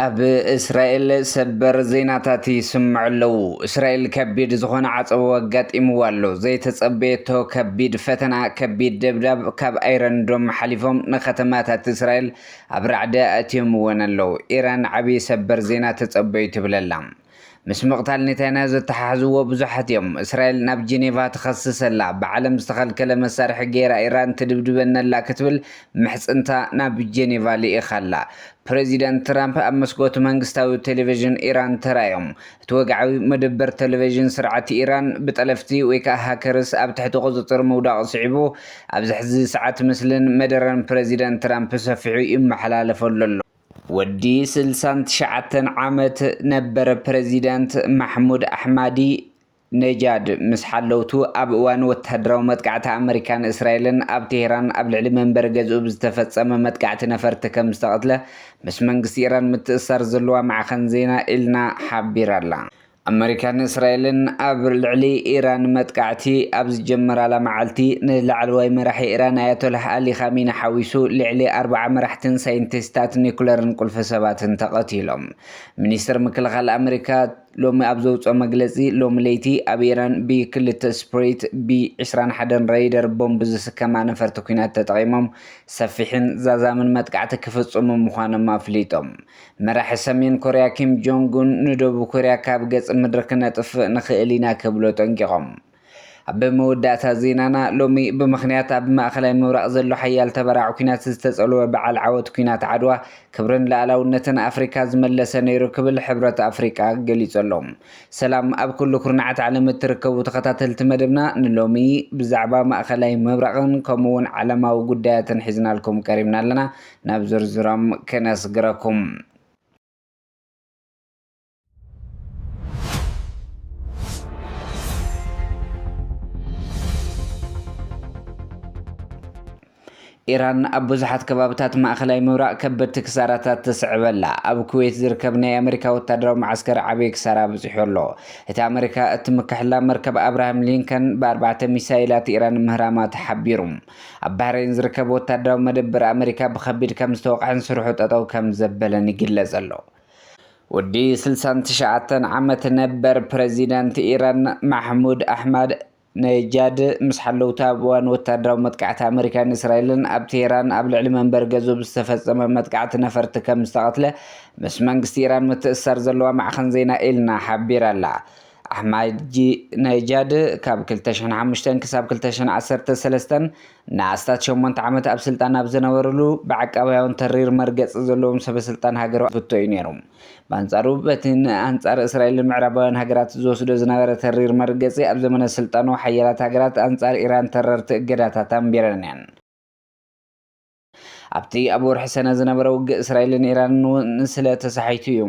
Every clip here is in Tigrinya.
ኣብ እስራኤል ሰበር ዜናታት ይስምዑ ኣለዉ። እስራኤል ከቢድ ዝኾነ ዓፀቦ ኣጋጢምዋ ኣሎ። ዘይተጸበየቶ ከቢድ ፈተና፣ ከቢድ ደብዳብ ካብ ኣይረንዶም ሓሊፎም ንከተማታት እስራኤል ኣብ ራዕዲ ኣእትዮም ወን ኣለው። ኢራን ዓቢ ሰበር ዜና ተጸበዩ ትብል ኣላ። ምስ ምቕታል ኔታንያሁ ዘተሓሕዝዎ ብዙሓት እዮም። እስራኤል ናብ ጄኔቫ ትኸስስ ኣላ። ብዓለም ዝተኸልከለ መሳርሒ ገይራ ኢራን ትድብድበኒ ኣላ ክትብል ምሕጽንታ ናብ ጄኔቫ ልኢኻ ኣላ። ፕረዚደንት ትራምፕ ኣብ መስኮት መንግስታዊ ቴሌቪዥን ኢራን ተራእዮም እቲ ወግዓዊ መደበር ተለቨዥን ስርዓት ኢራን ብጠለፍቲ ወይ ከኣ ሃከርስ ኣብ ትሕቲ ቁጽጽር ምውዳቑ ስዒቡ ኣብዚ ሕዚ ሰዓት ምስልን መደረን ፕረዚደንት ትራምፕ ብሰፊሑ ይመሓላለፈሉ ኣሎ። ወዲ ስልሳን ትሽዓተን ዓመት ነበር ፕረዚደንት ማሕሙድ ኣሕማዲ ነጃድ ምስ ሓለውቱ ኣብ እዋን ወተሃደራዊ መጥቃዕቲ ኣመሪካ ንእስራኤልን ኣብ ቴህራን ኣብ ልዕሊ መንበሪ ገዝኡ ብዝተፈጸመ መጥቃዕቲ ነፈርቲ ከምዝተቐትለ ምስ መንግስቲ ኢራን ምትእስሳር ዘለዋ ማዕኸን ዜና ኢልና ሓቢራ'ላ። ኣመሪካን እስራኤልን ኣብ ልዕሊ ኢራን መጥቃዕቲ ኣብ ዝጀመራላ መዓልቲ፣ ንላዕለዋይ መራሒ ኢራን ኣያቶላህ ኣሊ ኻሚኒ ሓዊሱ ልዕሊ ኣርብዓ መራሕትን ሳይንቲስታት ኒኩለርን ቁልፊ ሰባትን ተቐቲሎም። ሚኒስተር ምክልኻል ኣመሪካ፣ ሎሚ ኣብ ዘውጽኦ መግለጺ፣ ሎሚ ለይቲ ኣብ ኢራን ብ ክልተ ስፕሪት ብ ዕስራን ሓደን ረይደር ቦምብ ዝስከማ ነፈርቲ ኲናት ተጠቒሞም ሰፊሕን ዛዛምን መጥቃዕቲ ክፍጽሙ ምዃኖም ኣፍሊጦም። መራሒ ሰሜን ኮርያ ኪም ጆንግ ኡን ንደቡብ ኮርያ ካብ ገጽ ምድሪ ክነጥፍእ ንኽእል ኢና ክብሉ ኣጠንቂቖም። ኣብ መወዳእታ ዜናና ሎሚ ብምኽንያት ኣብ ማእኸላይ ምብራቕ ዘሎ ሓያል ተበራዕ ኩናት ዝተፀልወ በዓል ዓወት ኩናት ዓድዋ ክብርን ልኣላውነትን ኣፍሪካ ዝመለሰ ነይሩ ክብል ሕብረት ኣፍሪቃ ገሊፁ ኣሎ። ሰላም ኣብ ኩሉ ኩርናዓት ዓለም እትርከቡ ተኸታተልቲ መደብና ንሎሚ ብዛዕባ ማእኸላይ ምብራቕን ከምኡ እውን ዓለማዊ ጉዳያትን ሒዝናልኩም ቀሪብና ኣለና ናብ ዝርዝሮም ክነስግረኩም። ኢራን ኣብ ብዙሓት ከባብታት ማእኸላይ ምብራቕ ከበድቲ ክሳራታት ተስዕበላ ኣብ ኩዌት ዝርከብ ናይ ኣመሪካ ወታደራዊ መዓስከር ዓብዪ ክሳራ ኣብፂሑ ኣሎ እቲ ኣመሪካ እትምክሐላ መርከብ ኣብርሃም ሊንከን ብኣርባዕተ ሚሳይላት ኢራን ምህራማ ተሓቢሩ ኣብ ባህረይን ዝርከብ ወታደራዊ መደበር ኣመሪካ ብከቢድ ከም ዝተወቕዐን ስርሑ ጠጠው ከም ዘበለን ይግለፅ ኣሎ ወዲ ስልሳን ትሽዓተን ዓመት ነበር ፕረዚደንት ኢራን ማሕሙድ ኣሕማድ ነጃድ ምስ ሓለውቲ ኣብ እዋን ወታደራዊ መጥቃዕቲ ኣመሪካን እስራኤልን ኣብ ቴህራን ኣብ ልዕሊ መንበሪ ገዝኡ ብዝተፈጸመ መጥቃዕቲ ነፈርቲ ከም ዝተቐትለ ምስ መንግስቲ ኢራን ምትእስሳር ዘለዋ ማዕኸን ዜና ኤልና ሓቢራ'ላ። ኣሕማድነጃድ ካብ ክልተ ሽሕን ሓሙሽተን ክሳብ ክልተ ሽሕን ዓሰርተ ሰለስተን ንኣስታት ሸሞንተ ዓመት ኣብ ስልጣን ኣብ ዝነበርሉ፣ ብዓቃባውያን ተሪር መርገጺ ዘለዎም ሰበስልጣን ሃገሩ ክፍቶ እዩ ነይሩ። ብኣንጻሩ፣ በቲ ንኣንጻር እስራኤልን ምዕራባውያን ሃገራት ዝወስዶ ዝነበረ ተሪር መርገጺ፣ ኣብ ዘመነ ስልጣኑ ሓያላት ሃገራት ኣንጻር ኢራን ተረርቲ እገዳታት ኣንቢረን እየን። ኣብቲ ኣብ ወርሒ ሰነ ዝነበረ ውግእ እስራኤልን ኢራንን እውን ስለ ተሳሒቱ እዩ።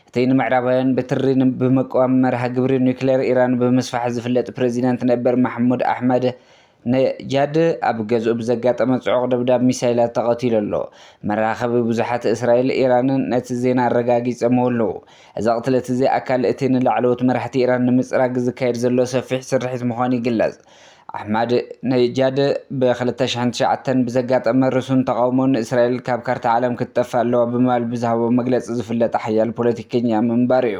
እቲ ንምዕራባውያን ብትሪ ብምቅዋም መርሃ ግብሪ ኑክሌር ኢራን ብምስፋሕ ዝፍለጥ ፕረዚደንት ነበር ማሕሙድ ኣሕመድ፣ ነጃድ ኣብ ገዝኡ ብዘጋጠመ ጽዑቕ ደብዳብ ሚሳይላት ተቐቲሉ ኣሎ። መራኸቢ ብዙሓት እስራኤልን ኢራንን ነቲ ዜና ኣረጋጊጸምዎ ኣለዉ። እዚ ቕትለት እዚ ኣካል እቲ ንላዕለዎት መራሕቲ ኢራን ንምጽራግ ዝካየድ ዘሎ ሰፊሕ ስርሒት ምዃኑ ይግለጽ። ኣሕማድነጃድ ብ ክልተ ሽሕን ትሽዓተን ብዘጋጠመ ርሱን ተቓውሞ ንእስራኤል ካብ ካርታ ዓለም ክትጠፍእ ኣለዋ ብምባል ብዝሃቦ መግለጺ ዝፍለጥ ሓያል ፖለቲከኛ ምንባሩ'ዩ።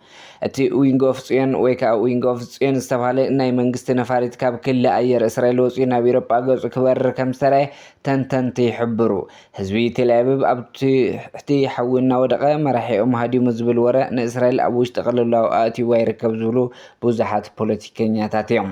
እቲ ዊንግ ኦፍ ጽዮን ወይ ከኣ ዊንግ ኦፍ ጽዮን ዝተባህለ ናይ መንግስቲ ነፋሪት ካብ ክሊ ኣየር እስራኤል ወጺኡ ናብ ኢሮጳ ገጹ ክበርር ከም ዝተራየ ተንተንቲ ይሕብሩ። ህዝቢ ቴልኣቪቭ ኣብ ትሕቲ ሓዊ እናወደቐ መራሒኦም ሃዲሙ ዝብል ወረ ንእስራኤል ኣብ ውሽጢ ቅልውላው ኣእትይዋ ይርከብ ዝብሉ ብዙሓት ፖለቲከኛታት እዮም።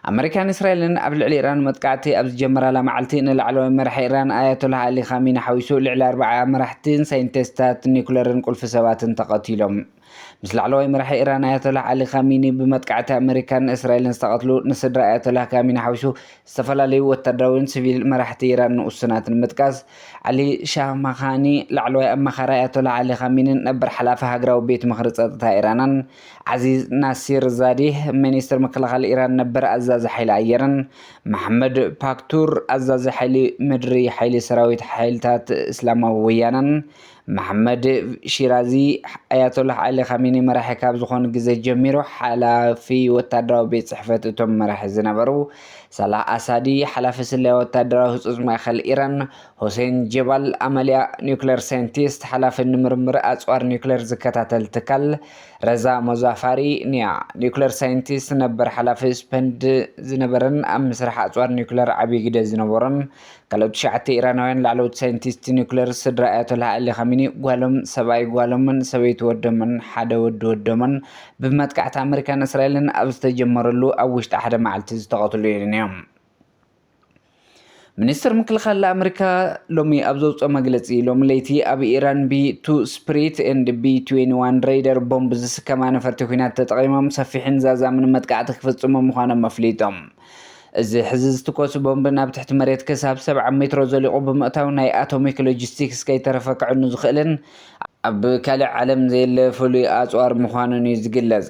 ኣመሪካን እስራኤልን ኣብ ልዕሊ ኢራን መጥቃዕቲ ኣብ ዝጀመራላ መዓልቲ ንላዕለዋይ መራሒ ኢራን ኣያቶላህ ኣሊ ኻሚኒ ሓዊሱ ልዕሊ ኣርባዓ መራሕትን ሳይንቲስታት ኒኩለርን ቁልፊ ሰባትን ተቐቲሎም። ምስ ላዕለዋይ መራሒ ኢራን ኣያቶላህ ኣሊ ኻሚኒ ብመጥቃዕቲ ኣመሪካን እስራኤልን ዝተቐትሉ ንስድራ ኣያቶላህ ካሚኒ ሓዊሱ ዝተፈላለዩ ወታደራዊን ሲቪል መራሕቲ ኢራን ንኡስናት ንምጥቃስ ዓሊ ሻማኻኒ ላዕለዋይ ኣማኻሪ ኣያቶላህ ኣሊ ኻሚኒን ነበር ሓላፊ ሃገራዊ ቤት ምኽሪ ጸጥታ ኢራናን ዓዚዝ ናሲርዛዴህ፣ ሚኒስተር ምክልኻል ኢራን ነበር ኣዛዚ ሓይሊ ኣየርን መሓመድ ፓክቱር፣ ኣዛዚ ሓይሊ ምድሪ ሓይሊ ሰራዊት ሓይልታት እስላማዊ ወያነን መሓመድ ሺራዚ፣ ኣያቶላህ ዓሊ ኻሚኒ መራሒ ካብ ዝኾኑ ግዘ ጀሚሩ ሓላፊ ወታደራዊ ቤት ፅሕፈት እቶም መራሒ ዝነበሩ ሳላህ ኣሳዲ፣ ሓላፊ ስለያ ወታደራዊ ህፁፅ ማእኸል ኢራን ሆሴን ጀባል ኣመልያ፣ ኒዩክለር ሳይንቲስት፣ ሓላፊ ንምርምር ኣጽዋር ኒዩክለር ዝከታተል ትካል፣ ረዛ ሞዛፋሪ፣ ኒያ፣ ኒዩክለር ሳይንቲስት፣ ነበር ሓላፊ ስፐንድ ዝነበረን ኣብ ምስራሕ ኣጽዋር ኒዩክለር ዓቢ ግደ ዝነበሮን ካልኦት ትሽዓተ ኢራናውያን ላዕለዎት ሳይንቲስት ኒዩክለር ስድራ ኣያቶላህ ኣሊ ኻሚኒ ጓሎም፣ ሰብኣይ ጓሎምን ሰበይቲ ወዶምን ሓደ ወዲ ወዶምን ብመጥቃዕቲ ኣመሪካን እስራኤልን ኣብ ዝተጀመረሉ ኣብ ውሽጢ ሓደ መዓልቲ ዝተቐትሉ ኢዮም። ሚኒስትር ምክልኻል ኣመሪካ ሎሚ ኣብ ዘውፅኦ መግለፂ ሎሚ ለይቲ ኣብ ኢራን ቢ ቱ ስፕሪት ኤንድ ቢ 21 ሬይደር ቦምብ ዝስከማ ነፈርቲ ኩናት ተጠቒሞም ሰፊሕን ዛዛምን መጥቃዕቲ ክፍፅሙ ምዃኖም ኣፍሊጦም። እዚ ሕዚ ዝትኮሱ ቦምብ ናብ ትሕቲ መሬት ክሳብ ሰብዓ ሜትሮ ዘሊቑ ብምእታው ናይ ኣቶሚክ ሎጂስቲክስ ከይተረፈ ከዕኑ ዝኽእልን ኣብ ካልእ ዓለም ዘየለ ፍሉይ ኣፅዋር ምዃኑን እዩ ዝግለፅ።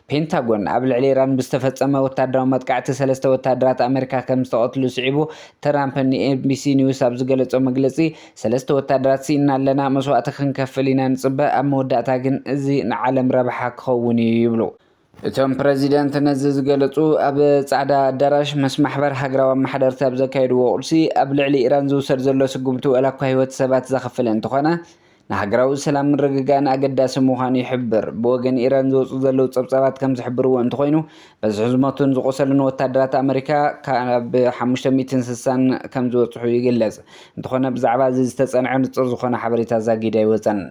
ፔንታጎን፣ ኣብ ልዕሊ ኢራን ብዝተፈጸመ ወተሃደራዊ መጥቃዕቲ ሰለስተ ወተሃደራት ኣመሪካ ከም ዝተቐትሉ ስዒቡ፣ ትራምፕ ንኤንቢሲ ኒውስ ኣብ ዝገለጾ መግለጺ፣ ሰለስተ ወተሃደራት ስኢንና ኣለና፣ መስዋእቲ ክንከፍል ኢና ንጽበ፣ ኣብ መወዳእታ ግን እዚ ንዓለም ረብሓ ክኸውን እዩ ይብሉ። እቶም ፕረዚደንት ነዚ ዝገለጹ፣ ኣብ ጻዕዳ ኣዳራሽ ምስ ማሕበር ሃገራዊ ኣመሓደርቲ ኣብ ዘካየድዎ ቁርሲ፣ ኣብ ልዕሊ ኢራን ዝውሰድ ዘሎ ስጉምቲ ዋላ'ኳ ህይወት ሰባት ዘኽፍል እንተኾነ፣ ንሃገራዊ ሰላም ምርግጋእን ኣገዳሲ ምዃኑ ይሕብር። ብወገን ኢራን ዝወጹ ዘለዉ ጸብጻባት ከም ዝሕብርዎ እንተኾይኑ፣ በዝሒ ዝሞቱን ዝቖሰሉን ወታደራት ኣመሪካ ካብ ሓሙሽተ ሚእትን ስሳን ከም ዝበጽሑ ይግለጽ። እንተኾነ ብዛዕባ እዚ ዝተጸንዐ ንጹር ዝኾነ ሓበሬታ ዛጊድ ኣይወጸን።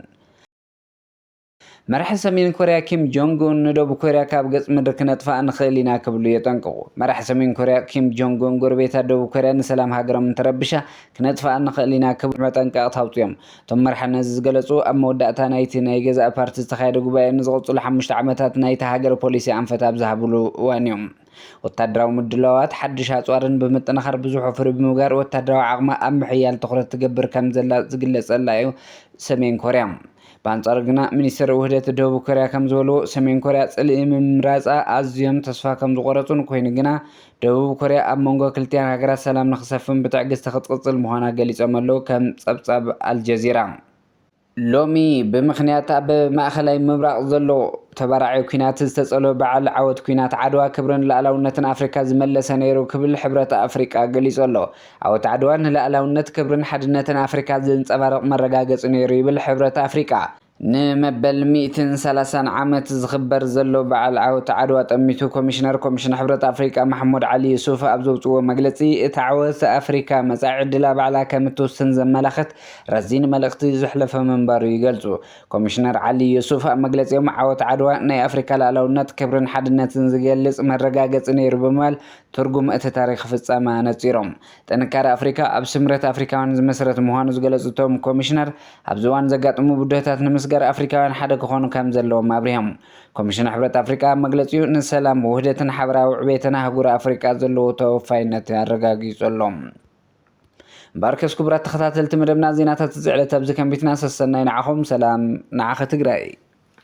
መራሒ ሰሜን ኮርያ ኪም ጆንግ ኡን ንደቡብ ኮርያ ካብ ገጽ ምድሪ ክነጥፍኣ ንኽእል ኢና ክብሉ የጠንቅቑ። መራሒ ሰሜን ኮርያ ኪም ጆንግ ኡን ጎረቤታ ደቡብ ኮርያ ንሰላም ሃገሮም እንተረቢሻ ክነጥፍኣ ንኽእል ኢና ክብሉ መጠንቀቕታ ኣውጺኦም። እቶም መራሒ ነዚ ዝገለጹ ኣብ መወዳእታ ናይቲ ናይ ገዛኢ ፓርቲ ዝተኻየደ ጉባኤ ንዝቕጽሉ ሓሙሽተ ዓመታት ናይታ ሃገር ፖሊሲ ኣንፈት ኣብ ዝሃብሉ እዋን'ዩ። ወታደራዊ ምድላዋት ሓድሽ ኣጽዋርን ብምጥንኻር ብዙሕ ወፍሪ ብምግባር ወታደራዊ ዓቕማ ኣብ ምሕያል ትኹረት ትገብር ከምዘላ ዝግለጸላ እዩ ሰሜን ኮርያ። ብኣንጻሩ ግና ሚኒስትር ውህደት ደቡብ ኮርያ ከምዝበልዎ ሰሜን ኮርያ ጽልኢ ምምራጻ ኣዝዮም ተስፋ ከምዝቖረጹን ኮይኑ ግና ደቡብ ኮርያ ኣብ መንጎ ክልቲኣን ሃገራት ሰላም ንክሰፍን ብትዕግስቲ ክትቕጽል ምዃና ገሊጾም ኣለዉ ከም ጸብጻብ ኣልጀዚራ። ሎሚ ብምኽንያት ኣብ ማእኸላይ ምብራቕ ዘሎ ተባራዒ ኲናት ዝተጸልወ በዓል ዓወት ኲናት ዓድዋ ክብርን ልኣላውነትን ኣፍሪካ ዝመለሰ ነይሩ ክብል ሕብረት ኣፍሪቃ ገሊጹ ኣሎ። ዓወት ዓድዋ ንልኣላውነት፣ ክብርን ሓድነትን ኣፍሪካ ዘንጸባርቕ መረጋገጺ ነይሩ ይብል ሕብረት ኣፍሪቃ። ንመበል ሚእትን ሰላሳን ዓመት ዝኽበር ዘሎ በዓል ዓወት ዓድዋ ጠሚቱ ኮሚሽነር ኮሚሽን ሕብረት ኣፍሪቃ ማሕሙድ ዓሊ ዩሱፍ ኣብ ዘውጽእዎ መግለጺ፣ እቲ ዓወት ኣፍሪካ መጻኢ ዕድላ ባዕላ ከምትውስን ዘመላኽት ረዚን መልእኽቲ ዘሕለፈ ምንባሩ ይገልጹ። ኮሚሽነር ዓሊ ዩሱፍ ኣብ መግለጺኦም ዓወት ዓድዋ ናይ ኣፍሪካ ልኣላውነት፣ ክብርን ሓድነትን ዝገልጽ መረጋገጺ ነይሩ ብምባል ትርጉም እቲ ታሪኽ ፍጻመ ኣነጺሮም። ጥንካረ ኣፍሪካ ኣብ ስምረት ኣፍሪካውያን ዝምስረት ምዃኑ ዝገለጹ እቶም ኮሚሽነር ኣብዚ እዋን ዘጋጥሙ ብድሆታት ንምስጋር ኣፍሪካውያን ሓደ ክኾኑ ከምዘለዎም ኣብሪሆም። ኮሚሽን ሕብረት ኣፍሪካ ኣብ መግለጺኡ ንሰላም፣ ውህደትን ሓበራዊ ዕቤትን ኣህጉር ኣፍሪቃ ዘለዎ ተወፋይነት ኣረጋጊጹ ኣሎ። እምበኣርከስ ክቡራት ተኸታተልቲ መደብና ዜናታት እዚ ዕለት ኣብዚ ከንቢትና ሰሰናዩ ንዓኹም ሰላም ንዓኺ ትግራይ።